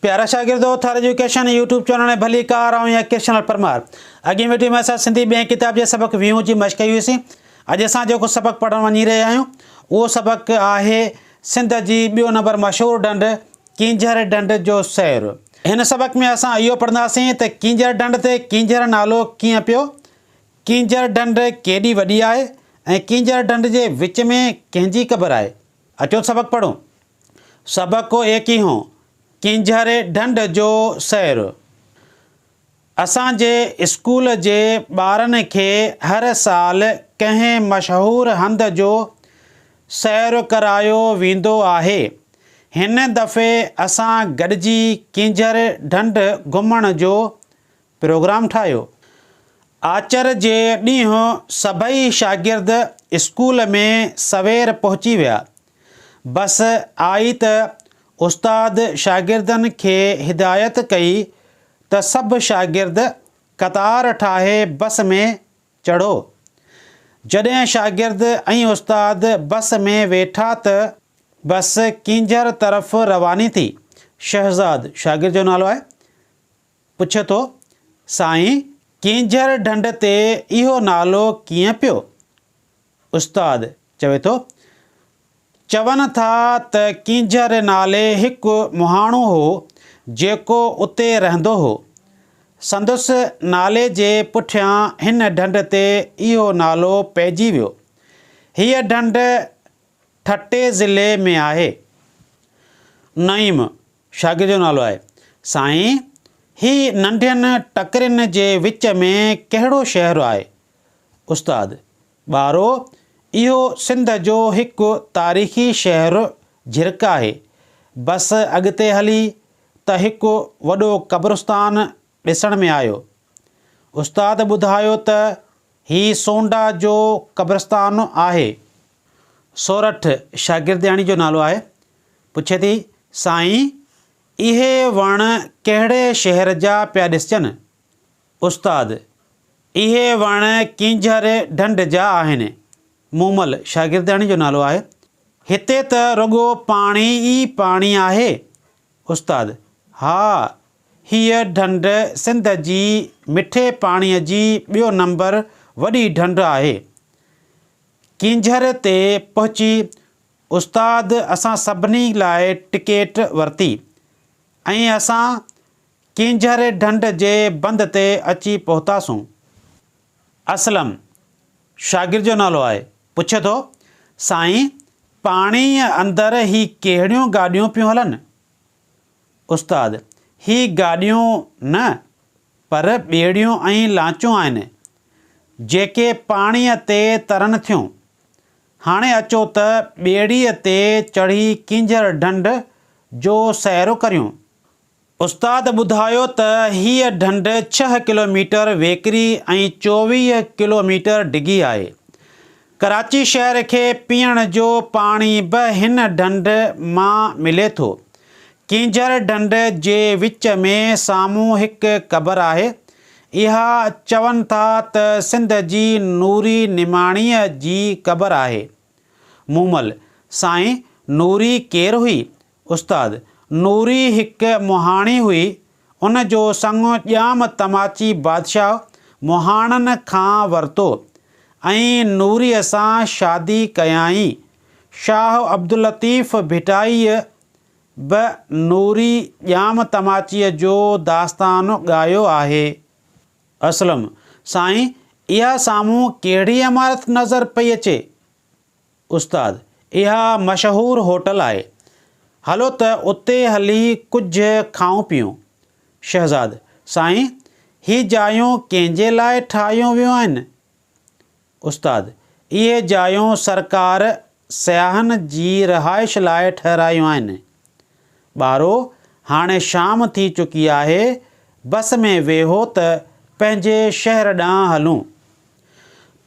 پيارا شاگردو! Thar education YouTube channel ۽ ڀليڪار آئون ايڪيشنل پرمار. اڳين وڊيو ۾ اسان سنڌي ٻئين ڪتاب جي سبق ويهون جي مشق ڪئي هئيسين. اڄ اسان جيڪو سبق پڙهڻ وڃي رهيا آهيون اهو سبق آهي سنڌ جي ٻيو نمبر مشهور ڍنڍ ڪينجهر ڍنڍ جو سير. هن سبق ۾ اسان اهو پڙهنداسين ته ڪينجهر ڍنڍ تي ڪينجهر نالو ڪيئن پيو، ڪينجهر ڍنڍ ڪيڏي وڏي آهي ۽ ڪينجهر ڍنڍ جي وچ ۾ ڪنهن جي قبر آهي. اچو سبق پڙهون. سبق ڪو ايڪ هي هون، ڪينجهري ڍنڍ جو سير. اسان جي اسڪول جي ٻارن کي هر سال ڪنهن مشهور هنڌ جو سير ڪرايو ويندو آهي. هن دفعي اسان گڏجي ڪينجهري ڍنڍ گهمڻ جو پروگرام ٺاهيو. آچر جي ڏينهن سڀئي شاگرد اسڪول ۾ سوير پهچي ويا. بس آئي ته استاد شاگردن کي هدايت ڪئي ته سڀ شاگرد قطار ٺاهي بس ۾ چڙهو. جڏهن شاگرد ۽ استاد بس ۾ ويٺا ته بس ڪينجهر طرف رواني ٿي. شهزاد شاگرد جو نالو آهي. پڇي ٿو، سائين ڪينجهر ڍنڍ تي اهو نالو ڪيئن پيو؟ استاد چوي ٿو، چون ٿا ته ڪينجهر نالي هڪ مهاڻو هو جيڪو اتي رهندو هو. سندس نالي جي پٺيان هن ڍنڍ تي اهو نالو پئجي ويو. هيء ڍنڍ ٺٽي ضلعي ۾ آهي. نعيم، شاگرد جو نالو آهي. سائين، هي ننڍين ٽڪرين جي وچ ۾ ڪهڙو شهر آهي؟ استاد، ٻارو، اهو سنڌ جو هڪ تاريخي شهر جهرڪ آهي. بس اڳتي هلي ته هڪ وڏو قبرستان ڏسڻ ۾ آيو. استاد ٻڌايو ته هي سونڊا جو قبرستان آهي. سورٺ، شاگردياڻي جو نالو آهي. پڇي ٿي، سائين! اهي وڻ ڪهڙي شهر جا پيا ڏسجن؟ استاد، اهي وڻ ڪينجهر ڍنڍ جا آهن. مومل، شاگردياڻي جو نالو آهي، هتي ته رڳو پاڻي ئي پاڻي آهي. استاد، ها! هيء ڍنڍ سنڌ جي مٺي پاڻيء جي ٻيو نمبر وڏي ڍنڍ آهي. ڪينجهر تي پهچي استاد اسان سڀني لاء ٽڪيٽ ورتي ۽ اسان ڪينجهري ڍنڍ جي بند تي اچي پهتاسون. اسلم، شاگرد جو نالو آهي، پڇي ٿو، سائين پاڻيء اندر هي ڪهڙيون گاڏيون پيون هلن؟ استاد، هي گاڏيون نه پر ٻيڙيون ۽ لانچون آهن، جيڪي پاڻيء تي ترن ٿيون. هاڻي اچو ته ٻيڙيء تي چڙهي ڪينجهر ڍنڍ جو سيرو ڪريون. استاد ٻڌايو ته هيء ڍنڍ ڇهه ڪلوميٽر ويڪري ۽ چوويهه ڪلوميٽر ڊگهي آهي. ڪراچي شهر کي پيئڻ جو پاڻي به هن ڍنڍ مان ملي ٿو. ڪينجهر ڍنڍ جي وچ ۾ سامهون هڪ قبر آهي، اها چون ٿا ته سنڌ جي نوري نماڻيء جي قبر آهي. مومل، سائين نوري ڪير هئي؟ استاد، نوري هڪ مهاڻي هئي، ان جو سڱو ڄام تماچي بادشاهه مهاڻن کان ورتو ۽ نوريء سان شادي ڪيائين. شاهه عبداللطيف ڀٽائيء به نوري ڄام تماچيء جو داستان ڳايو آهي. اسلم، سائين، اها سامهون ڪهڙي عمارت نظر پئي اچي؟ استاد، اها مشهور هوٽل آهي. هلو ته اتي هلي ڪجهه کائون پيئون. شهزاد، سائين، هي جايون ڪنهن جي لاء ٺاهيون ويون آهن؟ استاد، اهي جايون سرڪار سياحن جي رهائش لاء ٺهرايون آهن. ٻارو، هاڻي شام ٿي چڪي آهي، بس ۾ ويهو ته پنهنجي شهر ڏانهن هلون.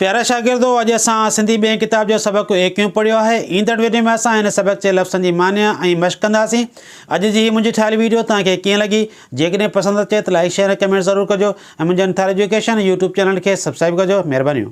پيارا شاگردو، اڄ اسان سنڌي ٻئين ڪتاب جو سبق ايڪيون پڙهيو آهي. ايندڙ ويڊيو ۾ اسان هن سبق جي لفظن جي معني ۽ مشق ڪنداسين. اڄ جي هي منهنجي ٺاهيل ويڊيو توهان کي ڪيئن لڳي؟ جيڪڏهن پسند اچي ته لائيڪ شيئر ۽ ڪمينٽ ضرور ڪجو ۽ منهنجي انٿاري ايجوڪيشن يوٽيوب چينل کي سبسڪرائيب ڪجو مهربانيون.